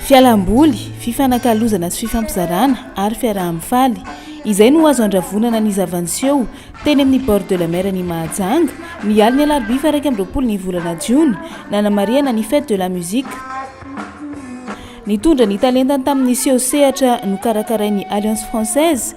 Fialam-boly, fifanakalozana sy fifampizarana ary fiaraha-mifaly. Izay no azo andravonana ny zava-niseho teny amin'ny Bord de la Mer an'i Mahajanga, ny alin'ny alarobia faha iraika amby roapolo ny volana jiona, nanamarihana ny Fête de la Musique. Nitondra ny talentany tamin'ny seho sehatra nokarakarain'ny Alliance Française,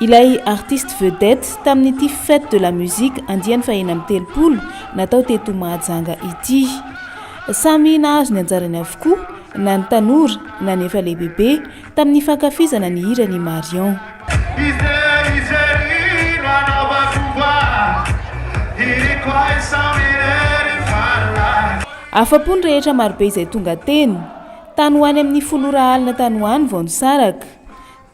Ilay artiste vedette tamin'ity fête de la musique andiany fahena amby telopolo natao teto Mahajanga ity. Samy nahazo ny anjarany avokoa na ny tanora na ny efa lehibebe tamin'ny fankafizana ny hiran' i Marion. Afa-po ny rehetra marobe izay tonga teny. Tany ho any amin'ny folo ora alina tany ho any vao nisaraka.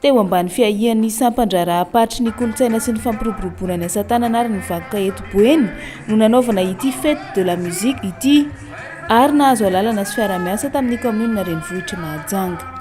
Teo ambany fiahian'ny sampan-draharaham-paritry ny kolontsaina sy ny fampiroboroboana ny asa tanana ary ny vakoka eto Boeny no nanaovana ity Fête de la musique ity ary nahazo alalana sy fiarahamiasa tamin'ny kaominina renivohitr'i Mahajanga.